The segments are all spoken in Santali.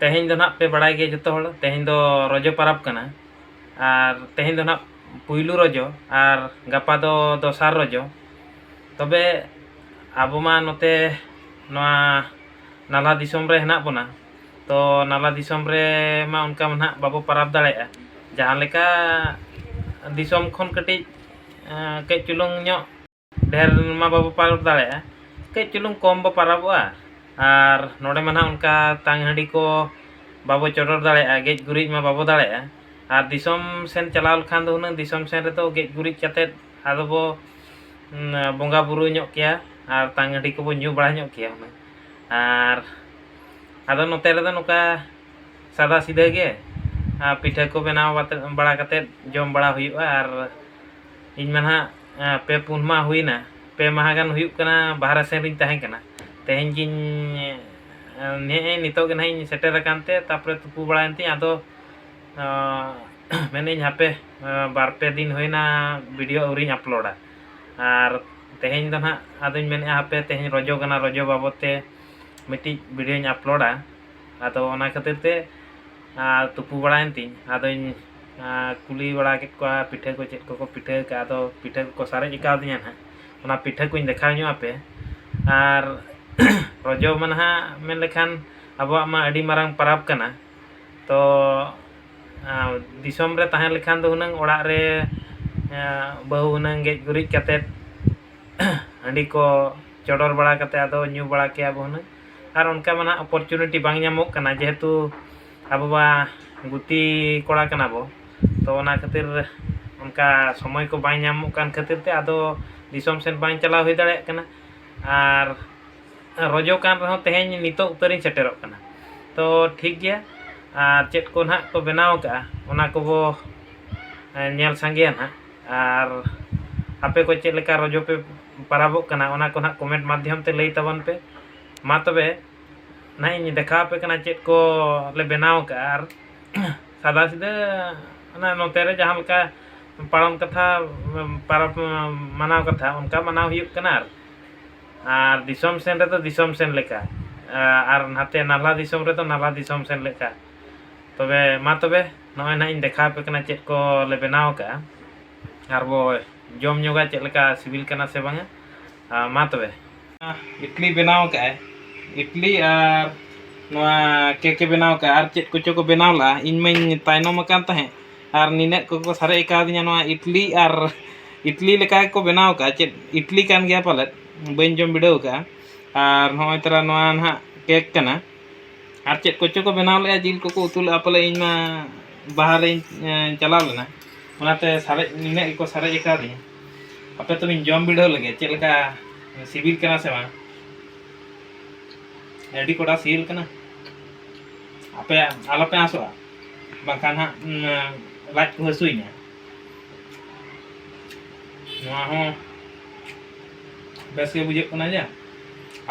ᱛᱮᱦᱮᱧ ᱫᱚ ᱱᱟᱦᱟᱜ ᱯᱮ ᱵᱟᱲᱟᱭ ᱜᱮᱭᱟ ᱡᱚᱛᱚ ᱦᱚᱲ ᱛᱮᱦᱮᱧ ᱫᱚ ᱨᱚᱡᱚ ᱯᱟᱨᱟᱵᱽ ᱠᱟᱱᱟ ᱟᱨ ᱛᱮᱦᱮᱧ ᱫᱚ ᱱᱟᱦᱟᱜ ᱯᱩᱭᱞᱩ ᱨᱚᱡᱚ ᱟᱨ ᱜᱟᱯᱟ ᱫᱚ ᱫᱚᱥᱟᱨ ᱨᱚᱡᱚ ᱛᱚᱵᱮ ᱟᱵᱚ ᱢᱟ ᱱᱚᱛᱮ ᱱᱚᱣᱟ ᱱᱟᱞᱦᱟ ᱫᱤᱥᱚᱢ ᱨᱮ ᱦᱮᱱᱟᱜ ᱵᱚᱱᱟ ᱛᱚ ᱱᱟᱞᱦᱟ ᱫᱤᱥᱚᱢ ᱨᱮᱢᱟ ᱚᱱᱠᱟ ᱢᱟ ᱱᱟᱦᱟᱜ ᱵᱟᱵᱚ ᱯᱟᱨᱟᱵᱽ ᱫᱟᱲᱮᱭᱟᱜᱼᱟ ᱡᱟᱦᱟᱸ ᱞᱮᱠᱟ ᱫᱤᱥᱚᱢ ᱠᱷᱚᱱ ᱠᱟᱹᱴᱤᱡ ᱠᱟᱹᱡ ᱪᱩᱞᱩᱝ ᱧᱚᱜ ᱰᱷᱮᱨ ᱢᱟ ᱵᱟᱵᱚ ᱯᱟᱨᱟᱵᱽ ᱫᱟᱲᱮᱭᱟᱜᱼᱟ ᱠᱟᱹᱡ ᱪᱩᱞᱩᱝ ᱠᱚᱢ ᱵᱚ ᱯᱟᱨᱟᱵᱚᱜᱼᱟ ᱟᱨ ᱱᱚᱰᱮ ᱢᱟ ᱱᱟᱦᱟᱜ ᱚᱱᱠᱟ ᱛᱟᱝ ᱦᱟᱺᱰᱤ ᱠᱚ ᱵᱟᱵᱚ ᱪᱚᱰᱚᱨ ᱫᱟᱲᱮᱭᱟᱜᱼᱟ ᱜᱮᱡ ᱜᱩᱨᱤᱡ ᱢᱟ ᱵᱟᱵᱚ ᱫᱟᱲᱮᱭᱟᱜᱼᱟ ᱟᱨ ᱫᱤᱥᱚᱢ ᱥᱮᱫ ᱪᱟᱞᱟᱣ ᱞᱮᱱᱠᱷᱟᱱ ᱫᱚ ᱦᱩᱱᱟᱹᱝ ᱫᱤᱥᱚᱢ ᱥᱮᱫ ᱨᱮᱫᱚ ᱜᱮᱡ ᱜᱩᱨᱤᱡ ᱠᱟᱛᱮᱫ ᱟᱫᱚ ᱵᱚ ᱵᱚᱸᱜᱟ ᱵᱳᱨᱳ ᱧᱚᱜ ᱠᱮᱭᱟ ᱟᱨ ᱛᱟᱝ ᱦᱟᱺᱰᱤ ᱠᱚᱵᱚ ᱧᱩ ᱵᱟᱲᱟ ᱧᱚᱜ ᱠᱮᱭᱟ ᱦᱩᱱᱟᱹᱝ ᱟᱨ ᱟᱫᱚ ᱱᱚᱛᱮ ᱨᱮᱫᱚ ᱱᱚᱝᱠᱟ ᱥᱟᱫᱟ ᱥᱤᱫᱷᱟᱹ ᱜᱮ ᱟᱨ ᱯᱤᱴᱷᱟᱹ ᱠᱚ ᱵᱮᱱᱟᱣ ᱵᱟᱲᱟ ᱠᱟᱛᱮᱫ ᱡᱚᱢ ᱵᱟᱲᱟ ᱦᱩᱭᱩᱜᱼᱟ ᱟᱨ ᱤᱧ ᱢᱟ ᱱᱟᱦᱟᱜ ᱯᱮ ᱯᱩᱱ ᱢᱟᱦᱟ ᱦᱩᱭᱮᱱᱟ ᱯᱮ ᱢᱟᱦᱟ ᱜᱟᱱ ᱦᱩᱭᱩᱜ ᱠᱟᱱᱟ ᱵᱟᱦᱨᱮ ᱥᱮᱱ ᱨᱤᱧ ᱛᱟᱦᱮᱸ ᱠᱟᱱᱟ ᱛᱮᱦᱮᱧ ᱜᱤᱧ ᱱᱮᱜᱼᱮ ᱱᱤᱛᱚᱜ ᱜᱮ ᱱᱟᱦᱟᱜ ᱤᱧ ᱥᱮᱴᱮᱨ ᱟᱠᱟᱱ ᱛᱮ ᱛᱟᱨᱯᱚᱨᱮ ᱛᱩᱯᱩ ᱵᱟᱲᱟᱭᱮᱱ ᱛᱤᱧ ᱟᱫᱚ ᱢᱮᱱᱮᱫ ᱟᱹᱧ ᱦᱟᱯᱮ ᱵᱟᱨ ᱯᱮ ᱫᱤᱱ ᱦᱩᱭᱮᱱᱟ ᱵᱷᱤᱰᱤᱭᱳ ᱟᱹᱣᱨᱤᱧ ᱟᱯᱞᱳᱰᱟ ᱟᱨ ᱛᱮᱦᱮᱧ ᱫᱚ ᱱᱟᱦᱟᱜ ᱟᱫᱚᱧ ᱢᱮᱱᱮᱫᱼᱟ ᱦᱟᱯᱮ ᱛᱮᱦᱮᱧ ᱨᱚᱡᱚ ᱠᱟᱱᱟ ᱨᱚᱡᱚ ᱵᱟᱵᱚᱫ ᱛᱮ ᱢᱤᱫᱴᱤᱡ ᱵᱷᱤᱰᱤᱭᱳᱧ ᱟᱯᱞᱳᱰᱟ ᱟᱫᱚ ᱚᱱᱟ ᱠᱷᱟᱹᱛᱤᱨ ᱛᱮ ᱛᱩᱯᱩ ᱵᱟᱲᱟᱭᱮᱱ ᱛᱤᱧ ᱟᱫᱚᱧ ᱟᱨ ᱠᱩᱞᱤ ᱵᱟᱲᱟ ᱠᱮᱫ ᱠᱚᱣᱟ ᱯᱤᱴᱷᱟᱹ ᱠᱚ ᱪᱮᱫ ᱠᱚᱠᱚ ᱯᱤᱴᱷᱟᱹ ᱟᱠᱟᱫᱼᱟ ᱟᱫᱚ ᱯᱤᱴᱷᱟᱹ ᱠᱚᱠᱚ ᱥᱟᱨᱮᱡ ᱠᱟᱣᱫᱤᱧᱟ ᱦᱟᱸᱜ ᱚᱱᱟ ᱯᱤᱴᱷᱟᱹ ᱠᱚᱧ ᱫᱮᱠᱷᱟᱣ ᱧᱚᱜ ᱟᱯᱮ ᱟᱨ ᱨᱚᱡᱚ ᱢᱟ ᱱᱟᱦᱟᱜ ᱢᱮᱱ ᱞᱮᱠᱷᱟᱱ ᱟᱵᱚᱣᱟᱜ ᱢᱟ ᱟᱹᱰᱤ ᱢᱟᱨᱟᱝ ᱯᱚᱨᱚᱵᱽ ᱠᱟᱱᱟ ᱛᱚ ᱫᱤᱥᱚᱢ ᱨᱮ ᱛᱟᱦᱮᱸ ᱞᱮᱠᱷᱟᱱ ᱫᱚ ᱦᱩᱱᱟᱹᱝ ᱚᱲᱟᱜ ᱨᱮ ᱵᱟᱹᱦᱩ ᱦᱩᱱᱟᱹᱝ ᱜᱮᱡ ᱜᱩᱨᱤᱡ ᱠᱟᱛᱮᱫ ᱦᱟᱺᱰᱤ ᱠᱚ ᱪᱚᱰᱚᱨ ᱵᱟᱲᱟ ᱠᱟᱛᱮᱫ ᱟᱫᱚ ᱧᱩ ᱵᱟᱲᱟ ᱠᱮᱭᱟ ᱵᱚᱱ ᱦᱩᱱᱟᱹᱝ ᱟᱨ ᱚᱱᱠᱟ ᱢᱟ ᱱᱟᱦᱟᱜ ᱚᱯᱚᱨᱪᱩᱱᱤᱴᱤ ᱵᱟᱝ ᱧᱟᱢᱚᱜ ᱠᱟᱱᱟ ᱡᱮᱦᱮᱛᱩ ᱟᱵᱚ ᱢᱟ ᱜᱩᱛᱤ ᱠᱚᱲᱟ ᱠᱟᱱᱟ ᱵᱚᱱ ᱛᱚ ᱚᱱᱟ ᱠᱷᱟᱹᱛᱤᱨ ᱚᱱᱠᱟ ᱥᱚᱢᱚᱭ ᱠᱚ ᱵᱟᱭ ᱧᱟᱢᱚᱜ ᱠᱟᱱ ᱠᱷᱟᱹᱛᱤᱨ ᱛᱮ ᱟᱫᱚ ᱫᱤᱥᱚᱢ ᱥᱮᱫ ᱵᱟᱝ ᱪᱟᱞᱟᱣ ᱦᱩᱭ ᱫᱟᱲᱮᱭᱟᱜ ᱠᱟᱱᱟ ᱟᱨ ᱨᱚᱡᱚ ᱠᱟᱱ ᱨᱮᱦᱚᱸ ᱛᱮᱦᱮᱧ ᱱᱤᱛᱚᱜ ᱩᱛᱟᱹᱨᱤᱧ ᱥᱮᱴᱮᱨᱚᱜ ᱠᱟᱱᱟ ᱛᱚ ᱴᱷᱤᱠ ᱜᱮᱭᱟ ᱟᱨ ᱪᱮᱫ ᱠᱚ ᱦᱟᱸᱜ ᱠᱚ ᱵᱮᱱᱟᱣ ᱠᱟᱜᱼᱟ ᱚᱱᱟ ᱠᱚᱵᱚ ᱧᱮᱞ ᱥᱟᱸᱜᱮᱭᱟ ᱦᱟᱸᱜ ᱟᱨ ᱟᱯᱮ ᱠᱚ ᱪᱮᱫ ᱞᱮᱠᱟ ᱨᱚᱡᱚ ᱯᱮ ᱯᱚᱨᱚᱵᱚᱜ ᱠᱟᱱᱟ ᱚᱱᱟ ᱠᱚ ᱦᱟᱸᱜ ᱠᱚᱢᱮᱱᱴ ᱢᱟᱫᱽᱫᱷᱚᱢ ᱛᱮ ᱞᱟᱹᱭ ᱛᱟᱵᱚᱱ ᱯᱮ ᱢᱟ ᱛᱚᱵᱮ ᱱᱟᱦᱟᱜ ᱤᱧ ᱫᱮᱠᱷᱟᱣ ᱟᱯᱮ ᱠᱟᱱᱟ ᱪᱮᱫ ᱠᱚ ᱞᱮ ᱵᱮᱱᱟᱣ ᱟᱠᱟᱫᱼᱟ ᱟᱨ ᱥᱟᱫᱟ ᱥᱤᱫᱟᱹ ᱚᱱᱟ ᱱᱚᱛᱮ ᱨᱮ ᱡᱟᱦᱟᱸ ᱞᱮᱠᱟ ᱯᱟᱨᱚᱢ ᱠᱟᱛᱷᱟ ᱯᱚᱨᱚᱵᱽ ᱢᱟᱱᱟᱣ ᱠᱟᱛᱷᱟ ᱚᱱᱠᱟ ᱢᱟᱱᱟᱣ ᱦᱩᱭᱩᱜ ᱠᱟᱱᱟ ᱟᱨ ᱟᱨ ᱫᱤᱥᱚᱢ ᱥᱮᱱ ᱨᱮᱫᱚ ᱫᱤᱥᱚᱢ ᱥᱮᱱ ᱞᱮᱠᱟ ᱟᱨ ᱱᱟᱛᱮ ᱱᱟᱞᱦᱟ ᱫᱤᱥᱚᱢ ᱨᱮᱫᱚ ᱱᱟᱞᱦᱟ ᱫᱤᱥᱚᱢ ᱥᱮᱱ ᱞᱮᱠᱟ ᱛᱚᱵᱮ ᱢᱟ ᱛᱚᱵᱮ ᱱᱚᱜᱼᱚᱭ ᱱᱟᱦᱟᱜ ᱤᱧ ᱫᱮᱠᱷᱟᱣ ᱟᱯᱮ ᱠᱟᱱᱟ ᱪᱮᱫ ᱠᱚ ᱞᱮ ᱵᱮᱱᱟᱣ ᱟᱠᱟᱫᱼᱟ ᱟᱨ ᱵᱚ ᱡᱚᱢ ᱧᱚᱜᱟ ᱪᱮᱫ ᱞᱮᱠᱟ ᱥᱤᱵᱤᱞ ᱠᱟᱱᱟ ᱥᱮ ᱵᱟᱝᱟ ᱢᱟ ᱛᱚᱵᱮ ᱤᱴᱞᱤ ᱵᱮᱱᱟᱣ ᱠᱟᱜᱼᱟᱭ ᱤᱴᱞᱤ ᱟᱨ ᱱᱚᱣᱟ ᱠᱮᱠᱮ ᱵᱮᱱᱟᱣ ᱠᱟᱜᱼᱟ ᱟᱨ ᱪᱮᱫ ᱠᱚᱪᱚ ᱠᱚ ᱵᱮᱱᱟᱣ ᱞᱟᱜᱼᱟ ᱤᱧ ᱢᱟᱧ ᱛᱟᱭᱱᱚᱢ ᱟᱠᱟᱱ ᱛᱟᱦᱮᱸᱫ ᱟᱨ ᱱᱤᱱᱟᱹᱜ ᱠᱚᱠᱚ ᱥᱟᱨᱮᱡ ᱠᱟᱣᱫᱤᱧᱟ ᱱᱚᱣᱟ ᱤᱴᱞᱤ ᱟᱨ ᱤᱴᱞᱤ ᱞᱮᱠᱟ ᱜᱮᱠᱚ ᱵᱮᱱᱟᱣ ᱠᱟᱜᱼᱟ ᱪᱮᱫ ᱤᱴᱞᱤ ᱠᱟᱱ ᱜᱮᱭᱟ ᱯᱟᱞᱮᱫ ᱵᱟᱹᱧ ᱡᱚᱢ ᱵᱤᱰᱟᱹᱣ ᱠᱟᱜᱼᱟ ᱟᱨ ᱱᱚᱜᱼᱚᱭ ᱛᱟᱨᱟ ᱱᱚᱣᱟ ᱱᱟᱦᱟᱜ ᱠᱮᱠ ᱠᱟᱱᱟ ᱟᱨ ᱪᱮᱫ ᱠᱚᱪᱚ ᱠᱚ ᱵᱮᱱᱟᱣ ᱞᱮᱜᱼᱟ ᱡᱤᱞ ᱠᱚᱠᱚ ᱩᱛᱩ ᱞᱮᱜᱼᱟ ᱯᱟᱞᱮ ᱤᱧ ᱢᱟ ᱵᱟᱦᱨᱮᱧ ᱪᱟᱞᱟᱣ ᱞᱮᱱᱟ ᱚᱱᱟᱛᱮ ᱥᱟᱨᱮᱡ ᱱᱤᱱᱟᱹᱜ ᱜᱮᱠᱚ ᱥᱟᱨᱮᱡ ᱠᱟᱣᱫᱤᱧᱟ ᱟᱯᱮ ᱛᱚᱵᱮᱧ ᱡᱚᱢ ᱵᱤᱰᱟᱹᱣ ᱞᱮᱜᱮ ᱪᱮᱫ ᱞᱮᱠᱟ ᱥᱤᱵᱤᱞ ᱠᱟᱱᱟ ᱥᱮ ᱵᱟᱝ ᱟᱹᱰᱤ ᱠᱚᱰᱟ ᱥᱤᱵᱤᱞ ᱠᱟᱱᱟ ᱟᱯᱮ ᱟᱞᱚᱯᱮ ᱟᱥᱚᱜᱼᱟ ᱵᱟᱝᱠᱷᱟᱱ ᱦᱟᱸᱜ ᱞᱟᱡ ᱠᱚ ᱦᱟᱹᱥᱩᱭᱤᱧᱟ ᱱᱚᱣᱟ ᱦᱚᱸ ᱵᱮᱥ ᱜᱮ ᱵᱩᱡᱷᱟᱹᱜ ᱠᱟᱱᱟ ᱡᱟ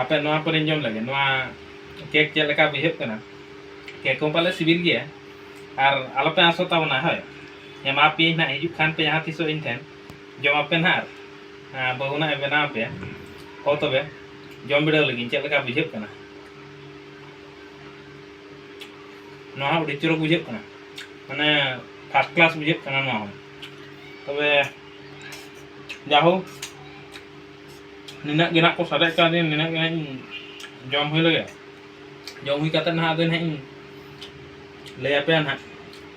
ᱟᱯᱮ ᱱᱚᱣᱟ ᱯᱚᱨᱮᱧ ᱡᱚᱢ ᱞᱮᱜᱮ ᱱᱚᱣᱟ ᱠᱮᱠ ᱪᱮᱫ ᱞᱮᱠᱟ ᱵᱩᱡᱷᱟᱹᱜ ᱠᱟᱱᱟ ᱠᱮᱠ ᱦᱚᱸ ᱯᱟᱞᱮ ᱥᱤᱵᱤᱞ ᱜᱮᱭᱟ ᱟᱨ ᱟᱞᱚᱯᱮ ᱟᱥᱚᱜ ᱛᱟᱵᱚᱱᱟ ᱦᱳᱭ ᱮᱢᱟ ᱯᱮᱭᱟᱹᱧ ᱱᱟᱦᱟᱜ ᱦᱤᱡᱩᱜ ᱠᱷᱟᱱ ᱯᱮ ᱡᱟᱦᱟᱸ ᱛᱤᱥᱚᱜ ᱤᱧ ᱴᱷᱮᱱ ᱡᱚᱢ ᱟᱯᱮ ᱱᱟᱦᱟᱜ ᱟᱨ ᱵᱟᱹᱦᱩ ᱱᱟᱦᱟᱜ ᱮ ᱵᱮᱱᱟᱣ ᱟᱯᱮᱭᱟ ᱦᱚ ᱛᱚᱵᱮ ᱡᱚᱢ ᱵᱤᱰᱟᱹᱣ ᱞᱟᱹᱜᱤᱫ ᱪᱮᱫ ᱞᱮᱠᱟ ᱵᱩᱡᱷᱟᱹᱜ ᱠᱟᱱᱟ ᱱᱚᱣᱟ ᱦᱚᱸ ᱟᱹᱰᱤ ᱪᱚᱨᱚᱠ ᱵᱩᱡᱷᱟᱹᱜ ᱠᱟᱱᱟ ᱢᱟᱱᱮ ᱯᱷᱟᱥᱴ ᱠᱞᱟᱥ ᱵᱩᱡᱷᱟᱹᱜ ᱠᱟᱱᱟ ᱱᱚᱣᱟ ᱦᱚᱸ ᱛᱚᱵᱮ ᱡᱟᱦᱳ ᱱᱤᱱᱟᱹᱜ ᱜᱮ ᱱᱟᱦᱟᱜ ᱠᱚ ᱥᱟᱨᱮᱡ ᱠᱟᱣᱫᱤᱧ ᱱᱤᱱᱟᱹᱜ ᱜᱮ ᱱᱟᱦᱟᱜ ᱤᱧ ᱡᱚᱢ ᱦᱩᱭ ᱞᱮᱜᱮ ᱡᱚᱢ ᱦᱩᱭ ᱠᱟᱛᱮᱫ ᱱᱟᱦᱟᱜ ᱟᱫᱚ ᱱᱟᱦᱟᱜ ᱤᱧ ᱞᱟᱹᱭ ᱟᱯᱮᱭᱟ ᱱᱟᱦᱟᱜ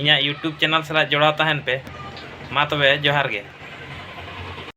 ᱤᱧᱟᱹᱜ ᱭᱩᱴᱩᱵᱽ ᱪᱮᱱᱮᱞ ᱥᱟᱞᱟᱜ ᱡᱚᱲᱟᱣ ᱛᱟᱦᱮᱱ ᱯᱮ ᱢᱟ ᱛᱚᱵᱮ ᱡᱚᱦᱟᱨ ᱜᱮ᱾